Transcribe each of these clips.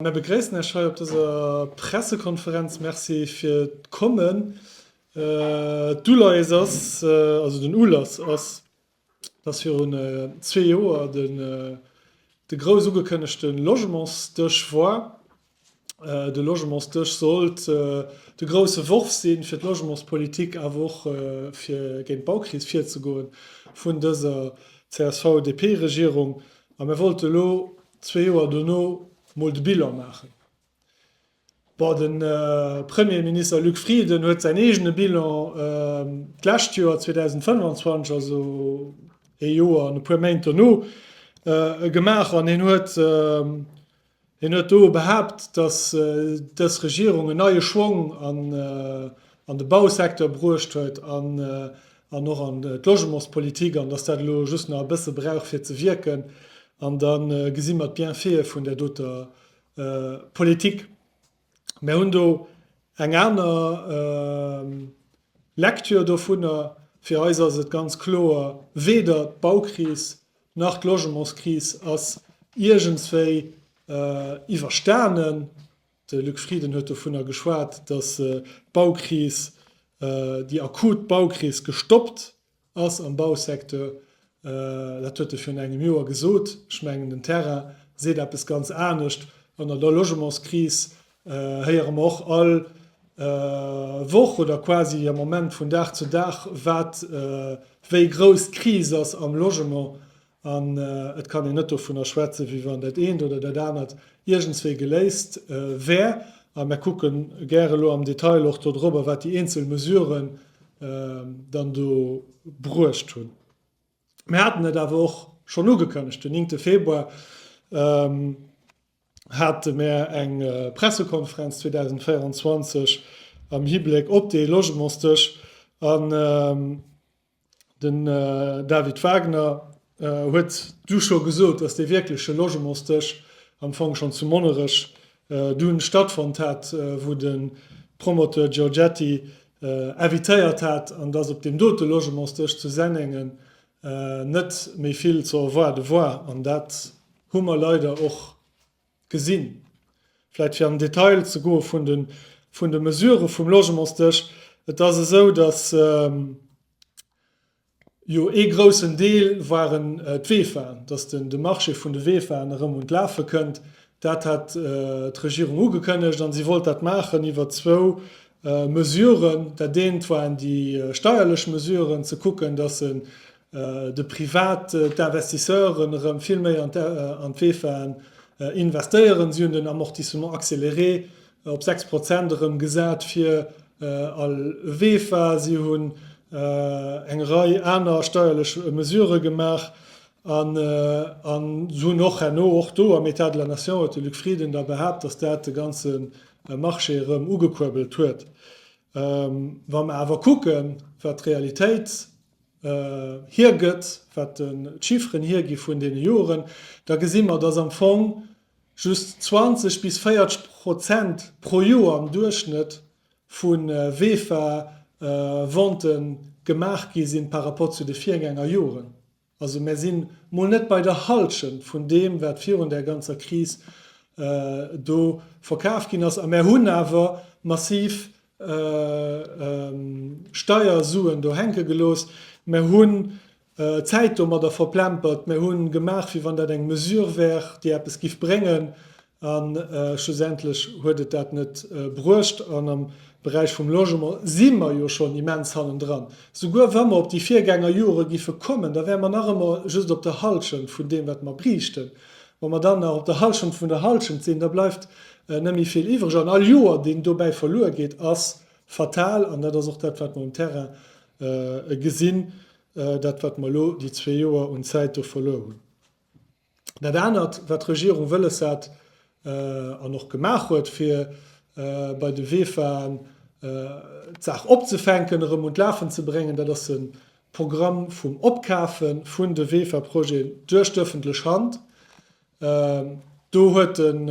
Mär begréissen Iech hei op dëser Pressekonferenz. Merci fir d'Kommen. D'Uleies ass, also den Ulass ass, dass virun zwee Joer de grouss ugekënnegte Logementsdësch war. De Logementsdësch sollt de grousse Worf si fir d'Logementspolitik, awer och fir géint d'Baukris virzegoen, vun dëser CSV-DP-Regierung. A mär wollte elo Zwee Joer dono mol de Bilan maachen. Bon, de Premierminister Luc Frieden huet säin eegene Bilan d'lescht Joer, 2025, also ee Joer an e puer Méint dono, gemaach an hien huet do behaapt, datt dës Regierung en neie Schwong an an de Bausecteur bruecht huet an och an d'Logementspolitik, an dass dat elo just nach e bësse brauch fir ze wierken, an da gesi mer d'Bienfaite vun där doter Politik. Mer hunn do eng aner Lecture dovunner. Fir eis ass et ganz kloer, weder d'Baukris nach d'Logementskris ass iergendswéi iwwerstanen. De Luc Frieden huet dovunner geschwat, datt d'Baukris, déi akut Baukris gestoppt ass am Bausecteur. Dat huet e virun engem Joer gesot. Ech mengen den Terrain seet eppes ganz anescht. An der Logementskris héiere mer och all Woch oder quasi am Moment vun Dag zu Dag, wat wéi grouss d'Kris ass am Logement. An et kann een net dovunner schwätzen, wéi wann dat eent oder dat anert iergendswéi geléist wär. A mir kucke gär elo am Detail och dodrobber, wat déi eenzel Mesuren dann do bruecht hunn. Mir haten et awer och schonn ugekënnegt, Den néngte Februar hate mir eng Pressekonferenz 2024 am Hibléck op dee Logementsdësch. Den David Wagner huet du scho gesot, datt dee wierkleche Logementsdësch am Fong schonn zu Monnerech du stattfonnt hat, wou de Promoteur Giorgetti invitéiert hat, an datt op deem dote Logementsdësch zu Sennengen net méi vill ze erwaarde war. An dat hu mer leider och gesinn. Vläicht fir an den Detail ze goe vun de Mesurë vum Logementsdësch, Et ass esou, datt jo ee groussen Deel waren d'Weefaen, datt de Marché vun de Weefaen erëm un d'Lafe kënnt. Dat hat d'Regierung ugekënnegt a si wollt dat maachen iwwer zwou Mesuren. Dat eent waren déi steierlech Mesuren, ze kucken, datt se de Privat, d'Investisseuren erëm vill méi an d'WEFAen investéieren. Si hunn den Amortissement accéléré op 6 Prozent erëm gesat fir all WEFA. Si hunn eng Rei aner steierlech Mesurë gemaach an hunn och herno, och do am État de la Nation huet de Luc Frieden da behaapt, datt dat de ganze Marché erëm ugekuerbelt huet. Wa mer awer kucken, wat d'Realitéit, hiergëtt, wat d'Chiffren hiergi vun deene Joren, da gesi mer, dass am Fong just 20 bis 40 Prozent pro Joer am Duerchschnëtt vu VEFA-Ventë gemaach gi sinn par rapport zu de Virgänger Joren. Also mer si mol net bei der Hallschent vun deem, wat virun där ganzer Kris do verkaf ginn ass. A mer hunn awer massiv Steiersuen do hänke gelooss, mer hunn d'Zäit domadder verplempert, mer hu gemaach, wéi wann dat eng Mesure wär, déi eppes giff bréngen, a schlussendlech huet et dat net bruecht. An am Beräich vum Logement si mer jo schonn immens hannendran. Souguer wa mer op déi Virgängerjore giffe kommen, da wäre mer nach ëmmer just op der Hallschent vun deem, wat mer bräichten. Wa mer dann nach op der Halschent vun der Halschent sinn, da bleift net méi vill iwwereg. An all Joer, deen dobäi verluer geet, ass fatal. An dat ass och dat, wat mer um Terrain gesinn, dat, wat mer elo déi zwee Joer un Zäit do verluer hunn. Dat anert, wat d'Regierung wëlles hat an och gemaach huet, fir bei de Weefaen d'Saach opzefänken, erëm un d'Lafen ze bréngen, dat ass e Programm vum Opkafe vun de WEFA-Projeten duerch d'öffentlech Hand. Do huet en,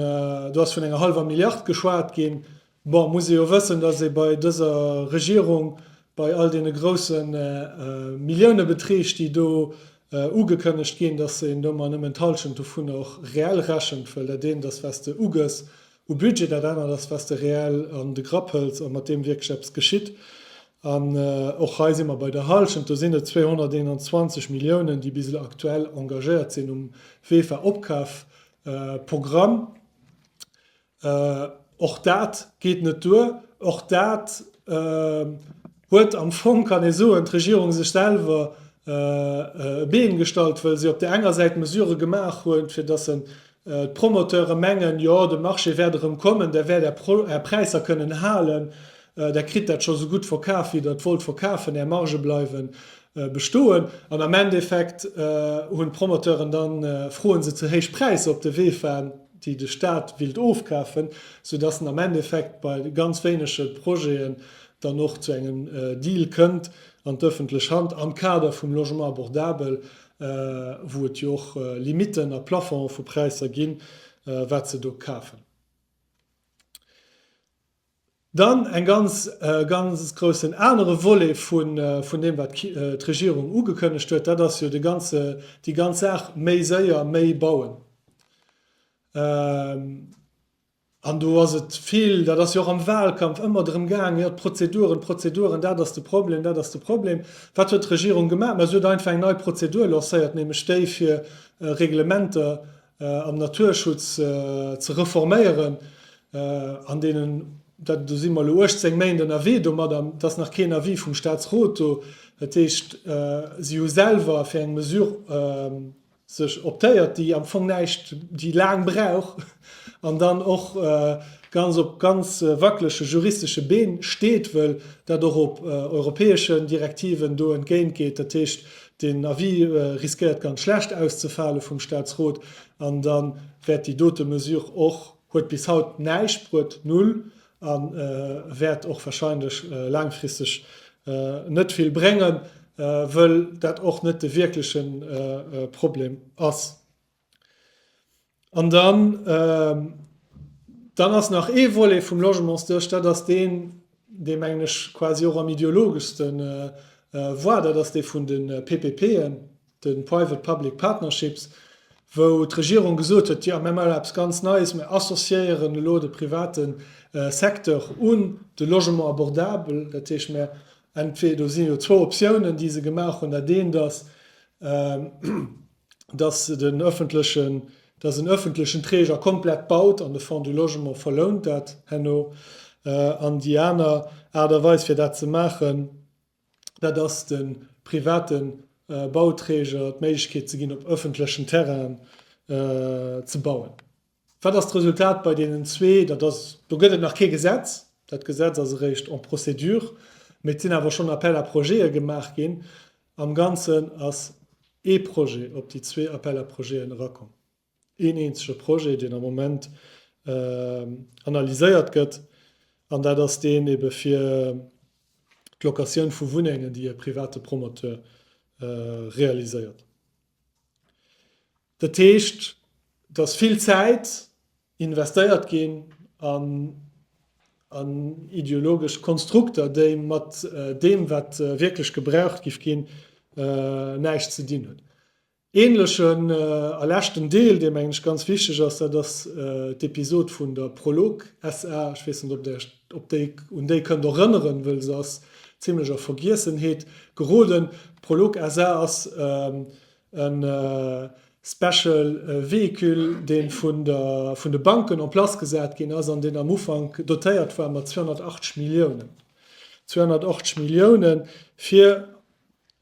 do ass vun enger hallwer Milliard geschwat ginn. Bon, muss ee jo wëssen, dass ee bei dëser Regierung, bei all deene grouse Milliounebeträg, déi do ugekënnegt ginn, dass een do emol nëmmen d'Halschent dovun och reell rechent, wëll dat eent ass, wat s de ugëss, u Budget, dat anert ass, was de reell an de Grapp hëls a mat deem wierklech eppes geschitt. An och hei si mer bei der Hallschent, do sinn et 221 Milliounen, déi bis elo aktuell engagéiert sinn um Vefa-Opkafprogramm. Och dat geet net duer. Och dat Huet am Fong, kann ee soen, d'Regierung sech selwer e Been gestallt, wëll si op där enger Säit Mesurë gemaach huet, fir dass d'Promoteure mengen, jo, de Marché wäert erëm kommen, där wäert Är Präisser kënnen halen, där kritt dat scho sou gutt verkaf, wéi Der et wollt verkafen, Är Margë bleiwe bestoen. An am Endeffekt hunn d'Promoteuren da froe se ze héich Präisser op de Wee faen, déi de Stat willt ofkafen, soudass en am Endeffekt bei ganz wéinege Projete dann och zu engem Deal kënnt an d'öffentlech Hand am Kader vum Logement abordable, wou et jo och Limiten a Plafonge vu Präisser ginn, wat se do kafen. Dann en ganz, ganz groussen anere Volet vun deem, wat d'Regierung ugekënnegt huet, dat ass jo de ganze, déi ganz Saach méi séier, méi bauen. An do ass et vill, dat ass jo och am Wahlkampf ëmmer drëm gaangen, jo d'Prozeduren, d'Prozeduren, dat ass de Problem, dat ass de Problem. Wat huet d'Regierung gemaach? Ma si huet einfach eng nei Prozedur lancéiert, nämlech déi fir Reglementer am Naturschutz ze reforméieren. An deenen, dat, do si mer elo 18 Méint ënnerwee domat an et ass nach keen Avis vum Staatsrot do. Dat heescht, si hu selwer fir eng Mesure, sech optéiert, déi am Fong näischt, déi laang brauch an dann och ganz op ganz wackelege juristesche Been steet, wëll dat och op europäeschen Direktiven do entgéint geet. Dat heescht, deen Avis riskéiert ganz schlecht auszefale vum Statsrot an da wäert déi dote Mesure och, huet bis haut näischt bruet, null, A wäert och wahrscheinlech laangfristeg net vill bréngen, wëll dat och net de wierkleche Problem ass. An dann, dann ass nach ee Volet vum Logementsduerch, dat ass deen, dee mengen ech quasi och am ideologeschste war, dat ass dee vun de PPPen. de Private Public Partnerships, wou d'Regierung gesot huet, jo mir maachen eppes ganz Neies, mir associéieren elo de private Secteur un de Logement abordable. Dat heescht, mir entweder, do si jo zwou Optiounen, déi se gemaach hunn, dat eent ass, dass en ëffentlechen Träger komplett baut an de Fonds du Logement verlount dat herno. An déi aner Aart a Weis fir dat ze maachen, dat ass de private Bauträger d'Méiglechkeet ze ginn, op ëffentlechen Terrainen ze bauen. Wat ass d'Resultat bei deenen zwee? Dat ass, do gëtt et nach kee Gesetz, dat Gesetz ass eréischt en procédure, mee et sinn awer schonn Appel à projets'e gemaach ginn. Am Ganzen ass ee Projet op déi zwee Appel à projets'en erakomm. Een eenzege Projet, deen am Moment analyséiert gëtt, an dat ass deen ebe fir d'Locatioun vu Wunnengen, déi e private Promoteur realiséiert. Dat heescht, et ass vill Zäit investéiert ginn an ideologesch Konstrukter, déi mat deem, wat wierklech gebraucht géif ginn, näischt ze dinn hunn. Ähnlechen a leschten Deel, dee mengen ech ganz wichteg ass, dat ass d'Episod vun der Prolog SA. Ech weess net, ob Där Iech op déi, un déi kënnt erënneren, wëll se ass zimlech a Vergiessenheet geroden. D'Prolog SA. ass e Special Véhicule, dee vun de Banken en place gesat ginn ass an deen am Ufank dotéiert war mat 280 Milliounen. 280 Milliounen, fir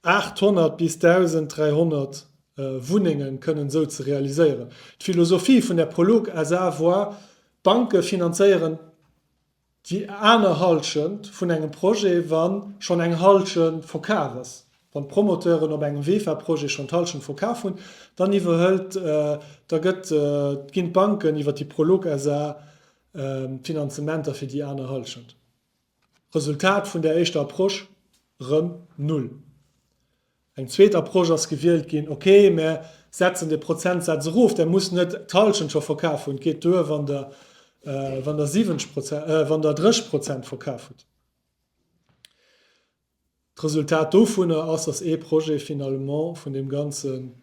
800 bis 1.300 Wunnenge kënnen esou ze realiséieren. D'Philosophie vun der Prolog SA war, d'Banke finanzéieren déi aner Hallschent vun engem Projet, wa schonn eng Hallschent verkaf ass. Wann d'Promoteuren op engem VEFA-Projet schonn d'Hallschent verkaf hunn, dann iwwerhëlt, da gëtt, ginn d'Banken iwwer déi Prolog SA d'Finanzementer fir déi aner Hallschent. Resultat vun där éischter Approche, Rëm null. Eng zweet Approche ass gewielt ginn, ok, mär setzen de Prozentsaz erof, där muss net d'Halschent scho verkaf hunn, et geet duer, wann der 70 Prozent, wann der 30 Prozent verkaf hutt. D'Resultat dovunner ass, datt ee Projet finalement vun deem ganzen,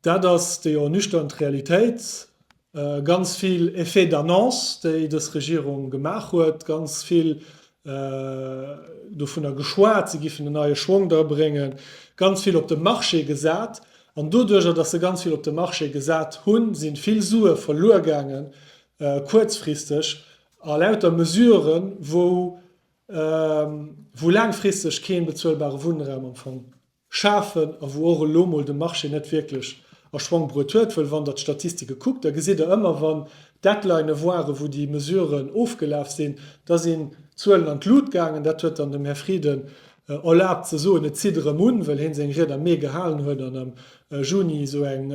Dat ass déi ernüchternd Realitéit. Ganz vill Effets d'annonce, déi dës Regierung gemaach huet, ganz vill dovunner geschwat, se giffen en neie Schwong dra bréngen, ganz vill op de Marché gesat. An doduerjer, datt se ganz vill op de Marché gesat hunn, si vill Sue verluer gaangen, kuerzfristeg, a lauter Mesuren, wou laangfristeg kee bezuelbare Wunnraum am Fong schafen a wou och elo mol de Marché net wierklech a Schwang bruet huet, wëll wann Der d'Statistike kuckt, da gesitt Der ëmmer, wann Deadlinë waren, wou déi Mesuren ofgelaf sinn, da sinn d'Zuelen an d'Lut gaangen. Dat huet dann dem Här Frieden erlaabt ze soen, et zitt erëm un, well hee seng Ried am Mee gehalen huet an am Juni esou eng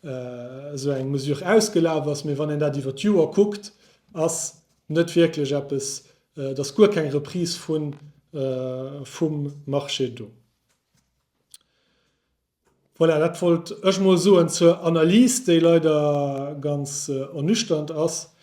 esou eng Mesure ausgelaf ass. Mee wann een dat iwwert d'Joer kuckt, ass. net wierklech eppes, et ass guer keng Reprise vum Marché do. Voilà, dat wollt ech mol soen zur Analys, déi leider ganz ernüchternd ass.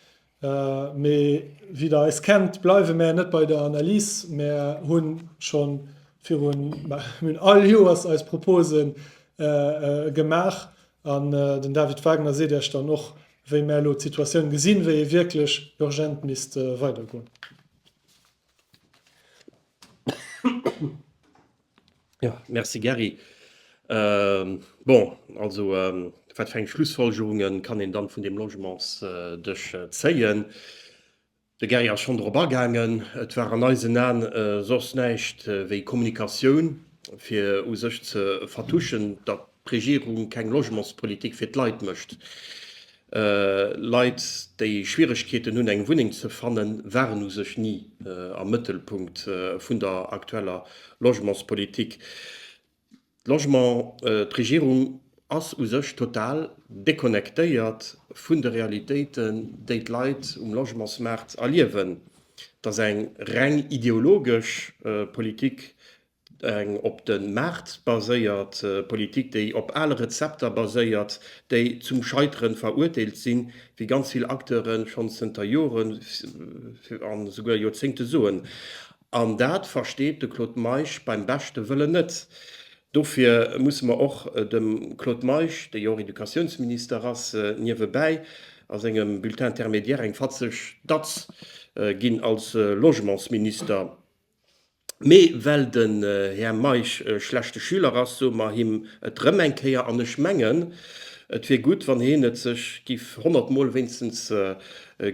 Mee wéi Der eis kennt, bleiwe mär net bei der Analys. Mär hunn schonn virun, mär hunn all Joers eis Propose gemaach an den David Wagner seet Iech dann och, wéi mär elo d'Situatioun gesinn, wéi ee wierklech urgent misst weidergoen. Jo, merci Gary. Bon, also wat fir eng Schlussfolgerunge kann een dann vun deem Logementsdësch zéien? De Gary ass schonn drop agaangen. Et war an eisen Aen soss näischt wéi Kommunikatioun, fir u sech ze vertuschen, datt d'Regierung keng Logementspolitik fir d'Leit mécht. Leit, déi Schwieregkeeten hunn, eng Wunneng ze fannen, waren u sech ni am Mëttelpunkt vun der aktueller Logementspolitik. Logement, D'Regierung ass u sech total deconnectéiert vun de Realitéiten, déi d'Leit um Logementsmaart erliewen. Et ass eng reng ideologesch Politik, eng op de Maart baséiert Politik, déi op ale Rezepter baséiert, déi zum Scheitere verurteelt sinn, wéi ganz vill Acteure schonn zënter Jore a souguer Joerzéngte soen. An dat versteet de Claude Meisch beim beschte Wëllen net. Dofir musse mer och dem Claude Meisch, dee jo och Educatiounsminister ass, niewebäi a sengem Bulletin intermédiaire eng fatzeg Datz ginn als Logementsminister. Mee well den Här Meisch e schlechte Schüler ass, soe mer him et erëm eng Kéier. An ech mengen, et wier gutt, wann hien et sech giff honnertmol wéinstens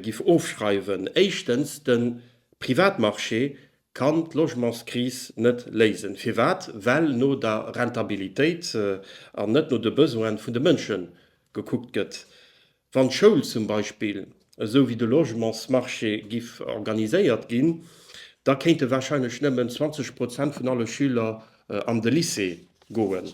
giff ofschreiwen. Éischtens, de. Privatmarché kann d'Logementskris net léisen. Firwat? Well no der Rentabilitéit an net no de Besoine vun de Mënsche gekuckt gëtt. Wann d'Schoul zum Beispill esou wéi de Logementsmarché giff organiséiert ginn, da kéinte warscheinlech nëmmen 20 Prozent vun alle Schüler an de Lycée goen.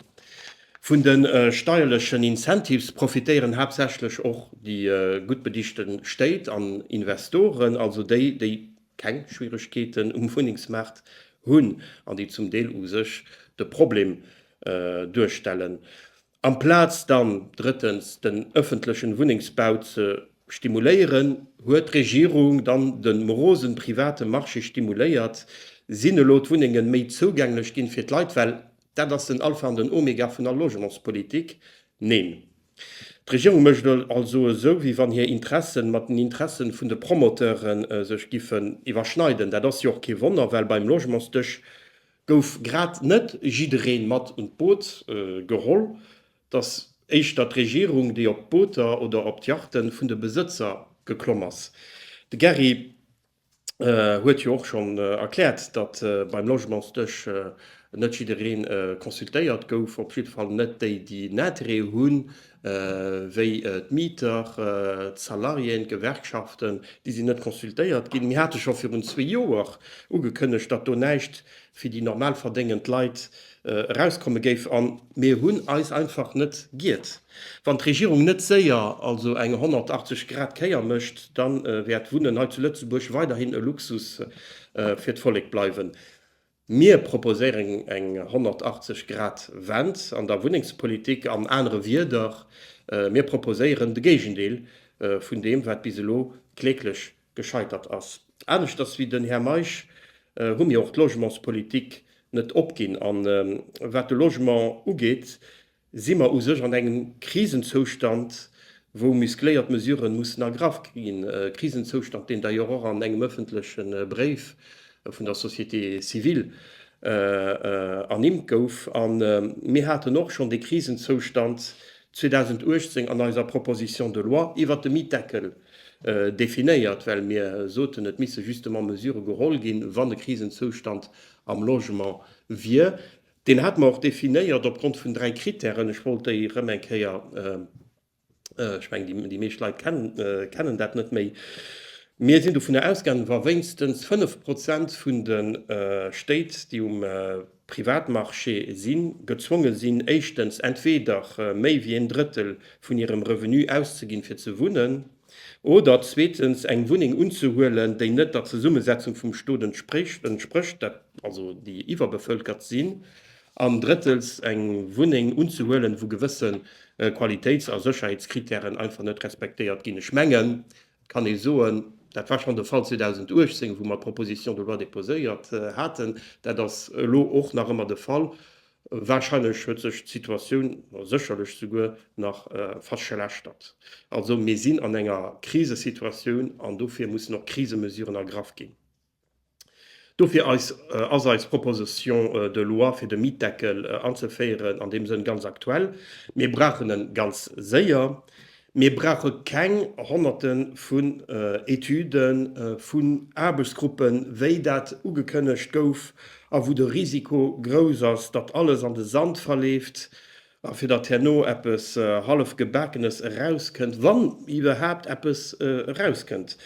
Vun de steierlechen Incentives profitéieren haaptsächlech och déi gutt bedichte Stéit an Investoren, also déi, déi keng Schwieregkeeten um Wunnengsmaart hunn an déi zum Deel u sech de Problem duerstellen. Amplaz dann drëttens den ëffentlechen Wunnengsbau ze stimuléieren, huet d'Regierung dann den morosen private Marché stimuléiert. Sinn elo d'Wunnengen méi zougänglech ginn fir d'Leit? Well dat ass den Alpha an den Omega vun all Logementspolitik. Neen, d'Regierung mécht also esou wéi wann hir Interessen mat den Interessen vun de Promoteuren sech giffen iwwerschneiden. Dat ass jo och kee Wonner, well beim Logementsdësch Gouf grad net jiddereen mat un d'Boot geholl, dass éischter d'Regierung, déi op d'Booter oder op d'Yachten vun de Besëtzer geklomm ass? De Gary huet jo och schonn erkläert, datt beim Logementsdësch net jiddereen consultéiert gouf, op jiddefall net déi, déi en Interêt hunn, wéi d'Mieter, d'Salariéen, d'Gewerkschaften, déi sinn net consultéiert ginn. Mir hate scho virun zwee Joer ugekënnegt, datt do näischt fir déi normal verdéngend Leit erauskomme géif, a mir hunn eis einfach net giert. Wann d'Regierung net séier also eng 180 Grad Kéier mécht, da wäert d'Wunnen hei zu Lëtzebuerg weiderhin e Luxus fir d'Vollek bleiwen. Mir proposéieren eng 180 Grad Wend an der Wunnengspolitik. An anere Wieder, mir proposéieren de Géigendeel vun deem, wat bis elo kläglech gescheitert ass. Aneschters wéi den Här Meisch hu mir och d'Logementspolitik net opginn. A wat de Logement ugeet, Si mer u sech an engem Krisenzoustand, wou muskléiert Mesuren mussen ergraff ginn, e Krisenzoustand, deen d'ailleurs och an engem ëffentleche Bréif vun der Société civile ernimmt gouf. A mir haten och schonn dee Krisenzoustand 2018 an eiser Proposition de loi iwwert de Mietdeckel definéiert, well mir soten, et misse justement Mesurë geholl ginn, wann e Krisenzoustand am Logement wier. Deen hate mer och definéiert opgrond vun dräi Kritären. Ech wollt déi erëm eng Kéier, ech mengen, déi meescht Leit kennen dat net méi. Mir sinn dovunner ausgaangen, wa wéinstens fënnf Prozent vun de Stéit, déi um Privatmarché sinn, gezwonge sinn, éischtens entweder méi wéi een Drëttel vun hirem Revenu auszeginn, fir ze wunnen, Oder zweetens eng Wunneng unzehuelen, déi net der Zesummesetzung vum Stot entsprécht, dat also déi iwwerbevölkert sinn. An drëttels eng Wunneng unzehuelen, wou gewësse Qualitéits a Sécherheetskritären einfach net respektéiert ginn. Ech mengen, et kann ee soen, dat war schonn de Fall 2018, wou mer d'Proposition de loi déposéiert haten, dat ass elo och nach ëmmer de Fall, Wahrscheinlech huet sech d'Situatioun, oder sécherlech souguer, nach verschlechtert. Also mir sinn an enger Krisesituatioun an dofir mussen och Krisemesuren ergraff ginn. Dofir eis ass eis Proposition de loi fir de Mietdeckel anzeféieren an deem Sënn ganz aktuell. Mir brauchen e ganz séier. Mir brauche keng Honnerte vu Etüden, vu Aarbechtsgruppen, wéi dat ugekënnegt gouf a wou de Risiko grouss ass, datt alles an de Sand verleeft a fir datt herno eppes Hallefgebakenes erauskënnt, wann iwwerhaapt eppes erauskënnt.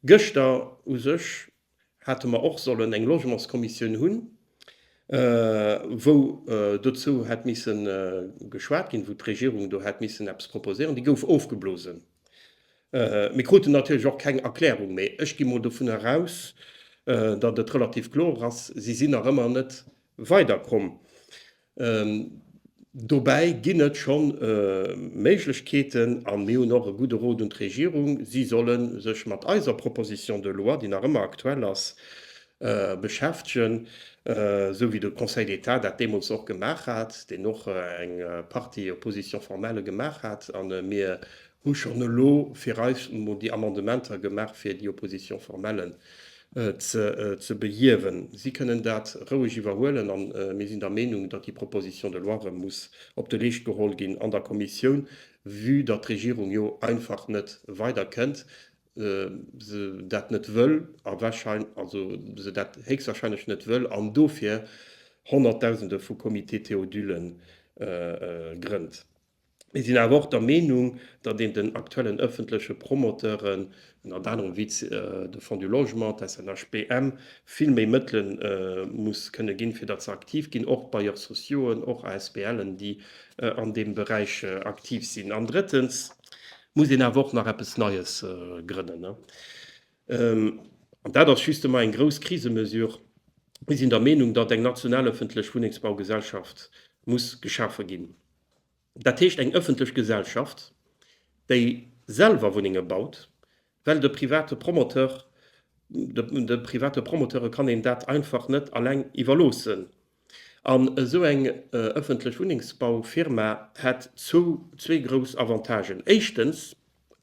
Gëschter u sech Hate mer och sollen eng Logementskommissioun hunn, wou dozou hätt misse geschwat ginn, wou d'Regierung do hätt missen eppes proposéieren. Déi gouf ofgeblosen. Mir kruten natierlech och keng Erklärung. Mee ech gi mol dovun eraus, datt et relativ kloer ass, si sinn nach ëmmer net weiderkomm. Dobäi ginn et scho Méiglechkeeten a mir hunn och e gudde Rot un d'Regierung, si solle sech mat eiser Proposition de loi, déi nach ëmmer aktuell ass, beschäftegen, esou wéi de Conseil d'État dat deemools och gemaach hat, deen och eng Partie Position formelle gemaach hat a mir hu schonn elo fir eis emol déi Amendementer gemaach, fir déi Opposition formelle ze behiewen. Si kënnen dat roueg iwwerhuelen a mir sinn der Meenung, datt déi Proposition de loi erëm muss op de Leescht geholl ginn an der Kommissioun, vue datt d'Regierung jo einfach net weider kënnt, se dat net wëll a wahrscheinl also se dat héchstwahrscheinlech net wëll an dofir honnertdausende vu Comité Théodule grënnt. Mir sinn awer och der Meenung, datt een den aktuellen ëffentleche Promoteuren, ënnert anerem wéi de Fonds du Logement, d'SNHBM, vill méi Mëttele muss kënne ginn, fir datt se aktiv ginn, och Bailleurs sociauxen, och ASBLen, déi an deem Beräich aktiv sinn. An drëttens muss een awer och nach eppes Neies grënnen. An dat ass justement eng grouss Krisemesure. Mir sinn der Meenung, datt eng national ëffentlech Wunnengsbaugesellschaft muss geschafe ginn. Dat heescht eng ëffentlech Gesellschaft, déi selwer Wunnenge baut, well de private Promoteur, de private Promoteure kann een dat einfach net alleng iwwerloossen. An esou eng ëffentlech Wunnengsbaufirma hätt zwou, zwee grouss Avantagen. Éischtens,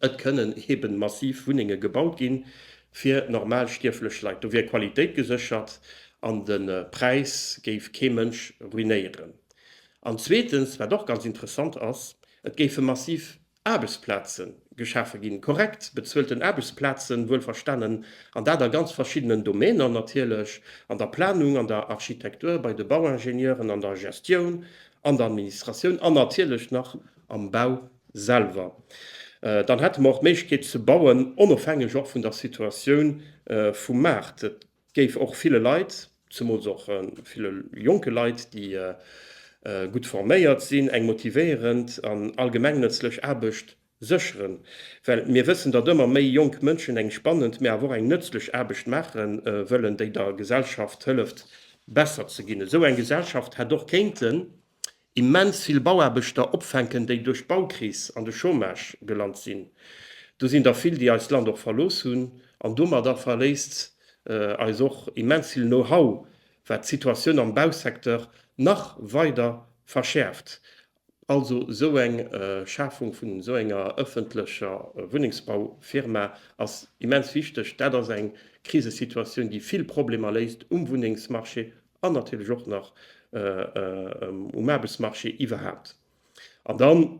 Et kënnen eben massiv Wunnenge gebaut ginn, fir normal stierflech Leit. Do wier d'Qualitéit geséchert an de Präis géif kee Mënsch ruinéieren. An zweetens, wat och ganz interessant ass, et géife massiv Aarbechtsplaze geschafe ginn, korrekt bezuelten Aarbechtsplazen, wuel verstanen, an dat a ganz verschiddenen Domainer natierlech, an der Planung, an der Architektur, bei de Bauingenieuren, an der Gestioun, an der Administratioun an natierlech nach am Bau. selwer. Dann hätte mer och d'Méiglechkeet ze bauen, onofhängeg och vun der Situatioun vum Maart. Et géif och ville Leit, zemools och ville jonke Leit, déi gutt forméiert sinn, eng motivéierend an allgemengnëtzlech Aarbecht sécheren, well mir wëssen, datt ëmmer méi jonk Mënschen eng spannend, mä awer och eng nëtzlech Aarbecht maache wëllen, déi der Gesellschaft hëlleft besser ze ginn. Esou eng Gesellschaft hätt och kéinten. immens vill Bauaarbechter opfänken, déi duerch d'Baukris an de Chômage gelant sinn. Do sinn der vill, déi eist Land och verlooss hunn. An domadder verléisst eis och immens vill Know-how, wat d'Situatioun am Bausecteur nach weider verschäerft. Also esou eng Schafung vun esou enger ëffentlecher Wunnengsbaufirma ass immens wichteg. Dat ass eng Krisesituatioun, déi vill Problemer léist um Wunnengsmarché an natierlech och nach um Aarbechtsmarché iwwerhaapt. An dann,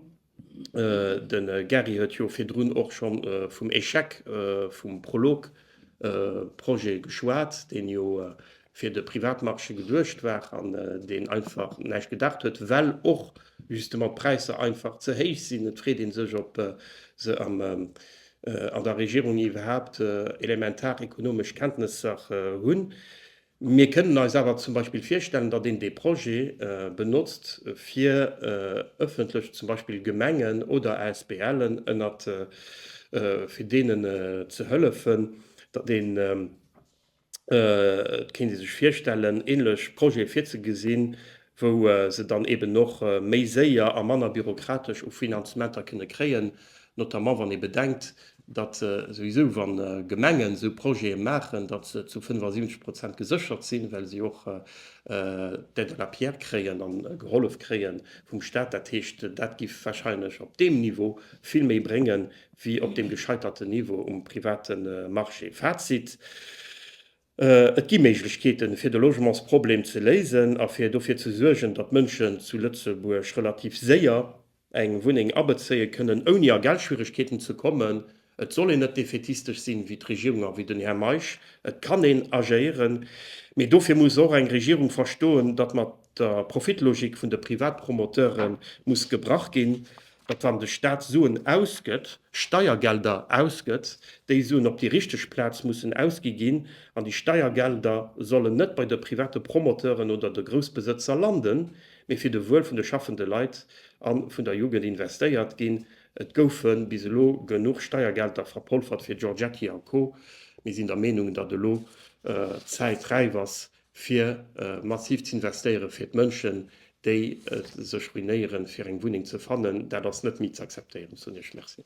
de Gary huet jo virdrun och scho vum Échec vum Prolog-Projet geschwat, deen jo fir de Privatmarché geduecht war an deen einfach näischt gedacht huet, well och justement d'Präisser einfach ze héich sinn. Et freet ee sech, ob se an der Regierung iwwerhaapt elementar ekonomesch Kenntnesser hunn. Mir kënnen eis awer zum Beispill virstellen, datt een dee Projet benotzt, fir ëffentlech zum Beispill Gemengen oder ASBLen ënnert, fir deenen ze hëllefen, datt een, et kéint ee sech virstellen, ähnlech Projete virzegesinn, wou se dann eben och méi séier a manner bürokratesch u Finanzementer kënne kréien, notamment wann ee bedenkt, datt souwisou, wa Gemengen esou Projete maachen, datt se zu 75 Prozent geséchert sinn, well se och d'Aide à la pierre kréien a gehollef kréie vum Stat. Dat heescht, dat giff wahrscheinlech op deem Niveau vill méi bréngen, wéi op deem gescheiterten Niveau um private Marché. Fazit, Et gi Méiglechkeeten, fir de Logementsproblem ze léisen a fir dofir ze suergen, datt Mënschen zu Lëtzebuerg relativ séier eng Wunneng abezéie kënnen, ouni a Geldschwieregkeeten ze kommen. Et soll een net defätistesch sinn, wéi d'Regierung a wéi den Här Meisch. Et kann een agéieren, mee dofir muss och eng Regierung verstoen, datt mat der Profitlogik vun de Privatpromoteure muss gebrach ginn. datt wann de Staat Suen ausgëtt, Steiergelder ausgëtt, déi Suen op déi richteg Plaz mussen ausgi ginn an déi Steiergelder sollen net bei de private Promoteuren oder de Groussbesëtzer landen, mee fir de Wuel vun de schaffende Leit a vun der Jugend investéiert ginn. Et goufe bis elo genuch Steiergelder verpolfert fir Giorgetti a Co. Mir sinn der Meenung, datt elo d'Zäit räif ass, fir massiv z'investéieren, fir d'Mënschen, déi sech ruinéieren, fir eng Wunneng ze fannen. Dat ass net méi z'akzeptéieren, sot Iech Merci.